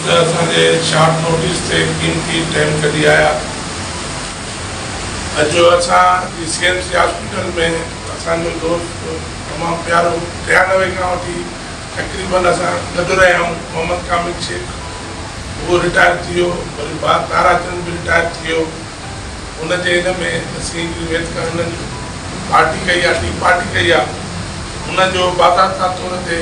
ته اسان جي شارٽ نوٽيس تي قيمتي ٽيم ڪڍي آيا. اڄ اسان جي سي ايم سي هاسپيٽل ۾ اسان جو دوست تمام پيارو ٽيانوي کان وٺي تقريبن اسان گڏ رهيا آهيون محمد ڪامل شيخ اهو رٽائر ٿي ويو وري بعد تارا چند به رٽائر ٿي ويو ان جي ان ۾ اسين هڪڙي ويدڪا هنن پارٽي ڪئي آهي ٽي پارٽي ڪئي آهي ان جو باضابطا طور تي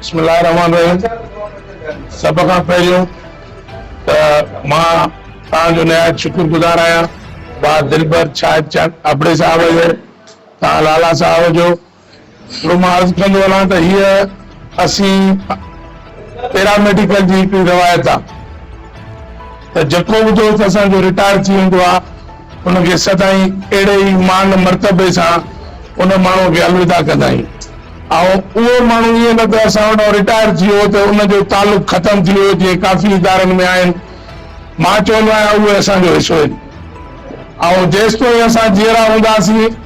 بسم الله الرحمن الرحيم سڀ کان پهريون ته مان توهان جو نهايت شڪر گذار آهيان با دلبر شاهد چند ابڙي صاحب جو توهان لالا صاحب جو ٻيو مان عرض ڪندو هلان ته هيء اسين پيراميڊيڪل جي هڪڙي روايت آ ته جيڪو به دوست اسان جو رٽائر ٿي ويندو آ ان کي سدائين اهڙي ئي مان مرتبي سان ان ماڻهوء کي الوداع ڪندا آهيون ۽ اهو ماڻهو ائين نه ته اسان وٽان رٽائر ٿي ويو ته ان جو تعلق ختم ٿي ويو جيئن ڪافي ادارن ۾ آهن مان چوندو آهيان اهي اسان جو حصو آهن. آئون جيستوئين اسان جيئرا هونداسين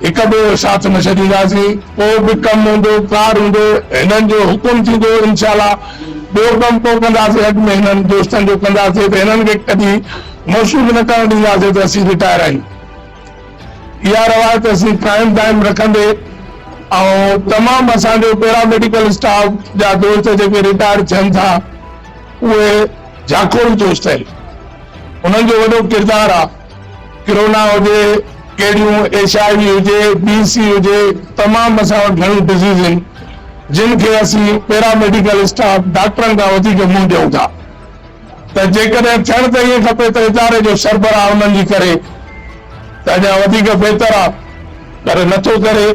هڪ ٻئي جو ساٿ نه ڇڏينداسين ڪو به ڪم هوندو ڪار هوندو هنن جو حڪم ٿيندو انشاء الله ٻيو ڪم ڪو ڪنداسين اڳ ۾ هنن دوستن جو ڪنداسين ته هنن کي ڪڏهن موصوف نه ڪرڻ ڏينداسين ته اسين رٽائر آهيون اها روايت اسين قائم دائم رکندي آئون تمام اسان جو پيرا ميڊيڪل اسٽاف جا دوست جيڪي رٽائر ٿين ٿا اهي جاکوڙ جوش ٿيل انهن جو وڏو ڪردار آ ڪرونا هجي ڪهڙيون ايڇ آء وي هجي بي سي هجي تمام اسان وٽ گهڻيون ڊزيز هين جن کي اسين پيرا ميڊيڪل اسٽاف ڊاڪٽرن کان وڌيڪ منهن ڏيون ٿا ته جيڪڏهن ٿيڻ ته ائين کپي ته اداري جو سربراهه انهن جي ڪري ته اڃا وڌيڪ بهتر آ پر نٿو ڪري.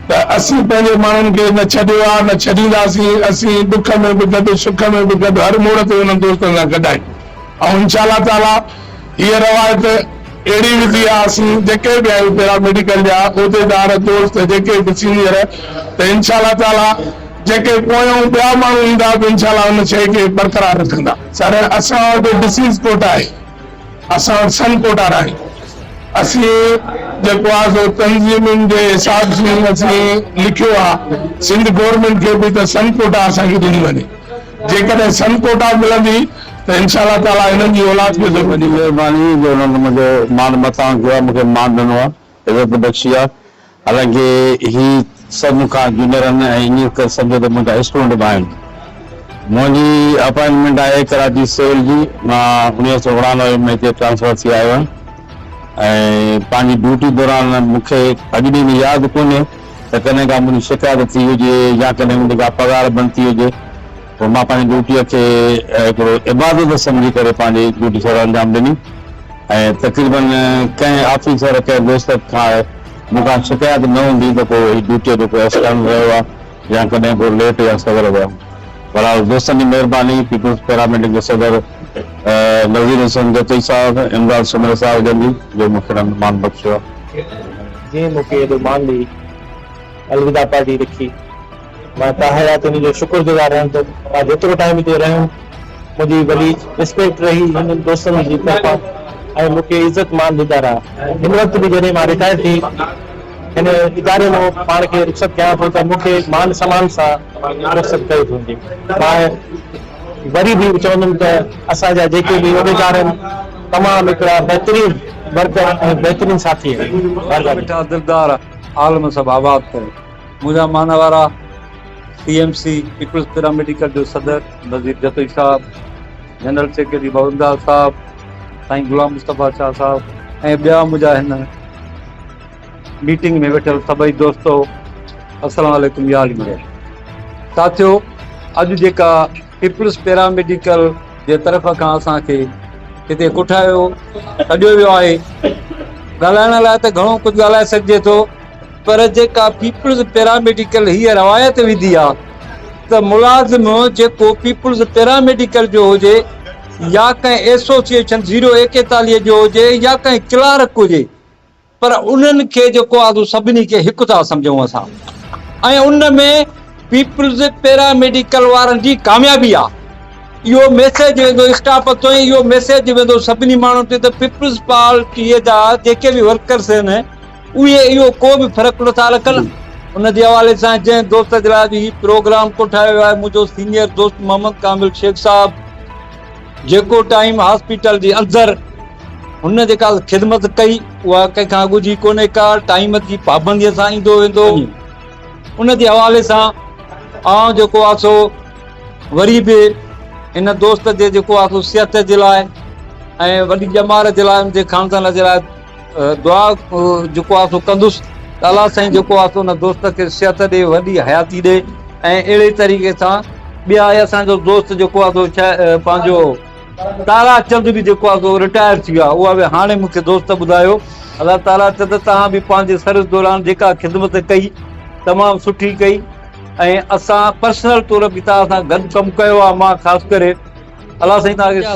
ته اسين پنهنجي ماڻهن کي نه ڇڏيو آ نه ڇڏينداسين، اسين ڏک ۾ به گڏ سک ۾ به گڏ هر موڙ تي انهن دوستن سان گڏ آهيون ۽ انشاء الله تعاليٰ هيء روايت اهڙي وڌي آ اسين جيڪي به آهيون پيراميڊيڪل جا عهديدار دوست جيڪي به سينيئر ته انشاء الله تعاليٰ جيڪي پويون ٻيا ماڻهو ايندا به انشاء الله ان شئي کي برقرار رکندا. سر اسان وٽ ڊسيز ڪوٽا آهي. اسان سن ڪوٽا راڻي اسين جيڪو آ سو تنظيمين جي حساب سين اسين لکيو آ سنڌ گورنمينٽ کي به ته سن ڪوٽا اسان کي ڏني وڃي جيڪڏهن سن ڪوٽا ملندي ته انشاء الله تعالي هنن جي اولاد کي ضرور ڏيندي. مھرباني جو انھن منھنجو مان متان ڪيو آ مونکي مان ڏنو آ. عزت بخشي آ حالانڪه هي سڀ مون کان جونيئر آهن ۽ ائين ڪري سمجهو ته منهنجا اسٽوڊنٽ به آهن منهنجي اپائنٽمينٽ آهي ڪراچي سول جي مان اڻيهه سؤ اڻانوي ۾ هتي ٽرانسفر ٿي آيو آهيان ۽ پنهنجي ڊيوٽي دوران مون کي اڄ ڏينهن ۾ ياد ڪونهي ته ڪڏهن ڪا منهنجي شڪايت ٿي هجي يا ڪڏهن منهنجي ڪا پگهار بند ٿي هجي پوء مان پنهنجي ڊيوٽيء کي هڪڙو عبادت سمجهي ڪري پنهنجي ڊيوٽي سر انجام ڏني ۽ تقريباً ڪنهن آفيسر ڪنهن دوست کان مون کان شڪايت نه هوندي ته ڪو هي ڊيوٽيء جو ڪو اسٽنٽ رهيو آ يا ڪڏهن ڪو ليٽ يا سوير ويم. بهرحال دوستن جي مهرباني، پيپلز پيراميڊڪ جي صدر نذير حسين جتوئي صاحب، امداد سومري صاحب جن جي جو مون کي هن مان مان بخشيو آ. جنهن مون کي ايڏو مان ڏئي. الوداع پارٽي رکي مان ته حيات ان جو شڪر گذار رهيم ته مان جيترو ٽائيم هتي رهيم منهنجي وڏي رسپيڪٽ رهي هن دوستن جي طرفان ۽ مون کي عزت مان ڏندا رهيا هن وقت به جڏهن مان رٽائر ٿي هن اداري مان پاڻ کي رخصت ڪيان ٿو ته مون کي مان سمان سان رخصت ڪئي ويندي مان وري به چوندم ته اسان جا جيڪي به عهديدار آهن تمام هڪڙا بهترين ورڪر ۽ بهترين ساٿي آهن مهرباني. عالم سڀ آباد ڪري. منهنجا معنيٰ وارا C M C, peoples paramedical جو صدر نذير جتوئي صاحب، جنرل سيڪريٽري بابنداد صاحب، سائين غلام مصطفيٰ شاهه صاحب ۽ ٻيا منهنجا هن ميٽنگ ۾ ويٺل سڀئي دوستو السلام عليڪم يا علي مڙيل ساٿيو اڄ جيڪا پيپلز پيراميڊيڪل جي طرف کان اسان کي هتي ڪٺايو سڏيو ويو آهي ڳالهائڻ لاء ته گهڻو ڪجهه ڳالهائي سگهجي ٿو پر جيڪا پيپلز پيراميڊيڪل هيء روايت وڌي آهي ته ملازم جيڪو پيپلز پيراميڊيڪل جو هجي يا ڪنهن ايسوسيئيشن زيرو ايڪيتاليهه جو هجي يا ڪنهن ڪلارڪ هجي پر انهن کي جيڪو آزو سڀني کي هڪ ٿا سمجهون اسان ۽ ان ۾ پيپلز پيراميڊيڪل وارن جي ڪاميابي آ اهو ميسيج ويندو اسٽاف تائين اهو ميسيج ويندو سڀني ماڻهن تي ته پيپلز پارٽي جا جيڪي به ورڪرز آهن اهي اهو ڪو به فرق نٿا رکن ان جي حوالي سان جنهن دوست جي لاء به هي پروگرام ڪوٺايو آهي منهنجو سينيئر دوست محمد ڪامل شيخ صاحب جيڪو ٽائيم هاسپيٽل جي اندر هن جيڪا خدمت ڪئي اها ڪنهن کان اڳ جي ڪونهي ڪا ٽائيم جي پابندي سان ايندو ويندو ان جي حوالي سان آئون جيڪو آ سو وري به هن دوست جي جيڪو آ سو صحت جي لاء ۽ وڏي ڄمار جي لاء ان جي خاندان جي لاء دعا جيڪو آهي سو ڪندس ته الله سائين جيڪو آهي سو ان دوست کي صحت ڏي وڏي حياتي ڏي ۽ اهڙي طريقي سان ٻيا اهي اسان جو دوست جيڪو آهي سو شا پنهنجو تارا چند به جيڪو آهي سو رٽائر ٿي ويو آهي اها به هاڻي مون کي دوست ٻڌايو الله تارا چند توهان به پنهنجي سروس دوران جيڪا خدمت ڪئي تمام سٺي ڪئي ۽ اسان پرسنل طور به توهان سان گڏ ڪم ڪيو آهي مان خاص ڪري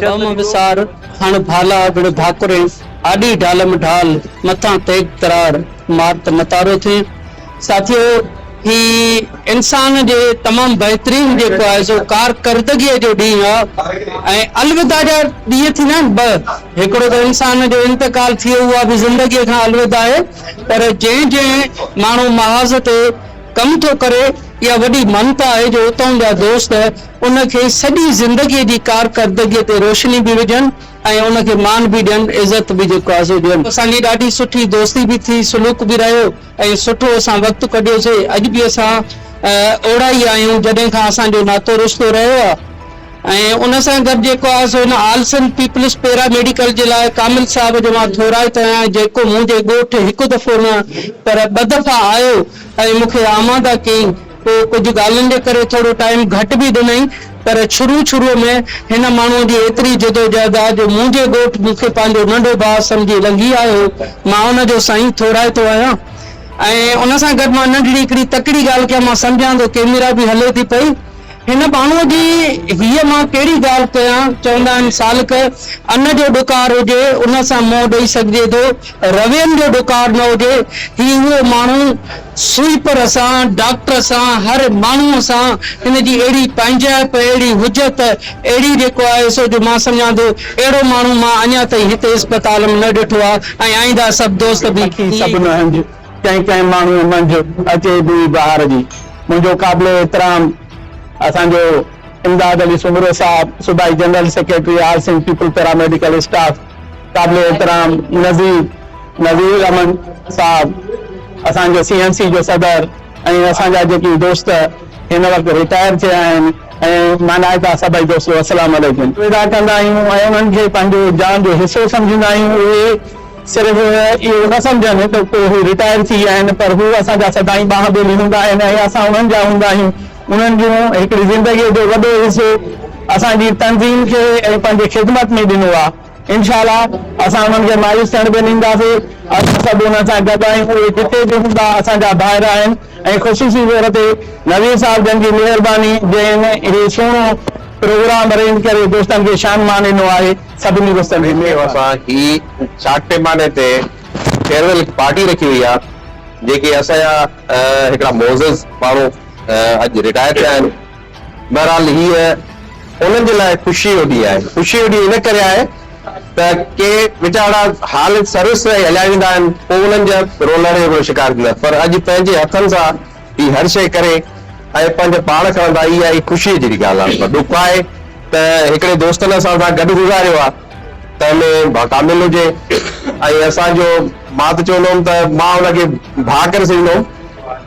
جا وهم وسار، هڻ ڀالا وڙهه ڀاڪرين، آڏي ڍالم ڍال، مٿان تيغ ترار، مار ته متارو ٿئين. ساٿيو! هي انسان جي تمام بهترين جيڪو آهي سو ڪارڪردگيء جو ڏينهن آهي ۽ الوداع جا ڏينهن ٿيندا آهن ٻه، هڪڙو ته انسان جو انتقال ٿئي اها به زندگيء کان الوداع آهي پر جنهن جنهن ماڻهو محاذ تي ڪم ٿو ڪري اها وڏي ممتا آهي جو اتئون جا دوست ان کي سڄي زندگيء جي ڪارڪردگيء تي روشني به وجهن ۽ ان کي مان به ڏين، عزت به جيڪو آزو ڏين. اسان جي ڏاڍي سٺي دوستي به ٿي، سلوڪ به رهيو ۽ سٺو اسان وقت ڪڍيوسي. اڄ به اسان اوڙا ئي آهيون جڏهن کان اسان جو ناتو رشتو رهيو آهي ۽ ان سان گڏ جيڪو آهي سو هن all Sindh peoples paramedical جي لاء ڪامل صاحب جو مان ٿورائتو آهيان جيڪو منهنجي ڳوٺ هڪ دفعو نه پر ٻه دفعا آيو ۽ مون کي آماده ڪيائين. پوء ڪجهه ڳالهين جي ڪري ٿورو ٽائيم گهٽ به ڏنائين، پر شروع شروع ۾ هن ماڻهوء جي ايتري جدوجهد آ، جو منهنجي ڳوٺ مون کي پنهنجو ننڍو ڀاء سمجهي لنگهي آيو هو، مان ان جو سائين ٿورائتو آهيان ۽ ان سان گڏ مان ننڍڙي هڪڙي تڪڙي ڳالهه ڪيان، مان سمجهان ٿو ڪيميرا به هلي ٿي پئي، هن ماڻهوء جي هيء مان ڪهڙي ڳالهه ڪيان، چوندا آهن سالڪ ان جو ڏڪار هجي ان سان منهن ڏئي سگهجي ٿو، روين جو ڏڪار نه هجي، هي اهو ماڻهو سوئيپر سان، ڊاڪٽر سان، هر ماڻهوء سان هن جي اهڙي پنهنجائپ، اهڙي هجت، اهڙي جيڪو آهي سو جو مان سمجهان ٿو اهڙو ماڻهو مان اڃا تائين هتي اسپتال م نه ڏٺو آ ۽ آئينده سڀ دوست به پکي سڀ نه هنج ڪنهن ڪنهن ماڻهوء منجهه اچي بوئي بهار جي. منهنجو قابل احترام اسان جو امداد علي سومرو صاحب صوبائي general secretary all Sindh peoples paramedical staff قابل احترام نظير نظير الرحمن صاحب اسان جي سي اين سي جي صدر ۽ اسان جا جيڪي دوست هن وقت رٽائر ٿيا آهن ۽ مانائتا سڀئي دوستو السلام عليڪم. ادا ڪندا آهيون ۽ انهن کي پنهنجو جان جو حصو سمجهندا آهيون اهي صرف اهو نه سمجهن ته ڪو هو رٽائر ٿي ويا آهن پر هو اسان جا سدائين ٻانهه ٻيلي هوندا آهن ۽ اسان انهن جا هوندا آهيون. انهن جون هڪڙي زندگيء جو وڏو حصو اسان جي تنظيم کي ۽ پنهنجي خدمت ۾ ڏنو آهي. انشاء الله اسان انهن کي مايوس ٿيڻ به نه ڏينداسين. اسان سڀ انهن سان گڏ آهيون. اهي جتي به هوندا اسان جا ڀائر آهن ۽ خصوصي طور تي نويد صاحب جن جي مهرباني جنهن هي سهڻو پروگرام ارينج ڪري دوستن کي شان مان ڏنو آهي. سڀني دوستن کي مهرباني. ويندي اسان هي چاڪ پيماني تي فيئرويل پارٽي رکي هئي آهي جيڪي اسان جا هڪڙا معزز ماڻهو اڄ رٽائر ٿيا آهن. بهرحال هيء انهن جي لاء خوشيء جو ڏينهن آهي. خوشيء جو ڏينهن ان ڪري آهي ته ڪي ويچارا حال سروس ۽ هليا ويندا آهن، پوء انهن جا رولڻ جو گهڻو شڪار ٿيندا، پر اڄ پنهنجي هٿن سان هي هر شيء ڪري ۽ پنهنجا پاڙ کڻن ٿا، اها ئي خوشيء جهڙي ڳالهه آهي. پر ڏک آهي ته هڪڙي دوست نه اسان سان گڏ گذاريو آهي ته ۾ ڀا ڪامل هجي ۽ اسان جو مان ته چوندو هوم ته مان ان کي ڀا ڪري سڏيندو هوم.